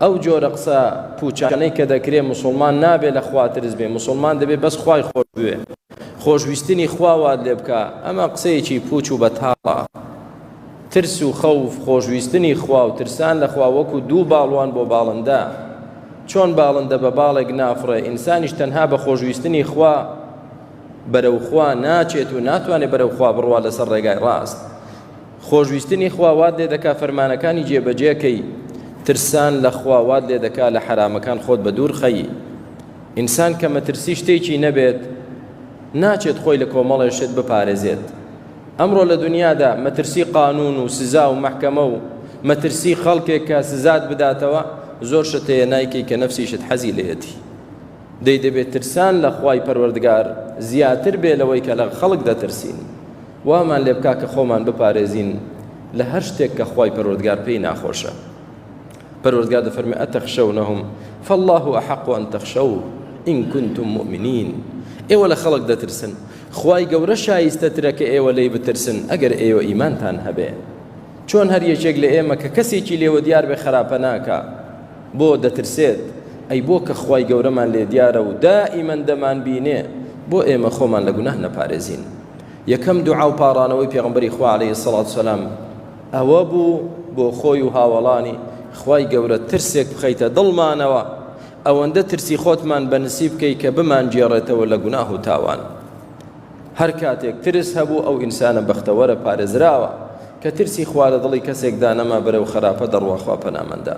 ئەو جۆرە قسە پوچانەی کە دەکرێ مسلمان نابێ لە خوا ترس بێ مسلمان دەبێ بەس خوای خۆش بوێ خۆشویستنی خواوات لێ بکە ئەمە قسەیەکی پوچ و بەتاڵە ترس و خەوف خۆشویستنی خوا و ترسان لە خوا وەکو دوو باڵوان بۆ باڵندە چۆن باڵندە بە باڵێک نافڕێ ئینسانیش تەنها بە خۆشویستنی خوا بەرەو خوا ناچێت و ناتوانێت بەرەو خوا بڕوا لەسەر ڕێگای ڕاست خۆشویستنی خوا وات لێ دەکا فەرمانەکانی جێبەجێ کەی، ترسان لە خوا وات لێ دەکا لە حەرامەکان خۆت بە دوور خەی. ئینسان کە مەترسی شتێکی نەبێت، ناچێت خۆی لە کۆمەڵێ شت بپارێزێت. ئەمڕۆ لە دنیادا مەترسی قانوون و سزا و مەحکەمە و مەترسی خەڵکێک کە سزات بداتەوە، زۆر شت هەیە نایکەی کە نەفسیشت حەزی لێیەتی. دەی دەبێ ترسان لە خوای پەروەردگار زیاتر بێ لەوەی کە لە خەڵک دەترسین. وامان لێ بکا کە خۆمان بپارێزین لە هەر شتێک کە خوای پەروەردگار پێی ناخۆشە پەروەردگار دەفەرمێ ئەتەخشەونەهم فالله احق ان تخشوه ان كنتم مؤمنین ئێوە لە خەڵک دەترسن خوای گەورە شایستە ترە کە ئێوە لی بترسن ئەگەر ئێوە ئیمانتان هەبێ چۆن هەر یەکێک لە ئێمە کە کەسێکی لێوە دیار بێ خراپە ناکە بۆ دەترسێت ئەی بۆ کە خوای گەورەمان لێ دیارە و دائیمەن دەمان بینێ بۆ ئێمە خۆمان لە گوناه نەپارێزین یەکەم دوعا و پاڕانەوەی پێغەمبەری خوا عەلەیهی سەڵات وسەلام ئەوە بوو بۆ خۆی و هاوەڵانی خوای گەورە ترسێک بخەیتە دڵمانەوە ئەوەندە ترسی خۆتمان بە نسیب بکەی کە بمان گێڕێتەوە لە گوناه و تاوان هەر کاتێک ترس هەبوو ئەو ئینسانە بەختەوەرە پارێزراوە کە ترسی خوا لە دڵی کەسێکدا نەما بەرەو خەراپە دەڕوا خوا پەنامەندا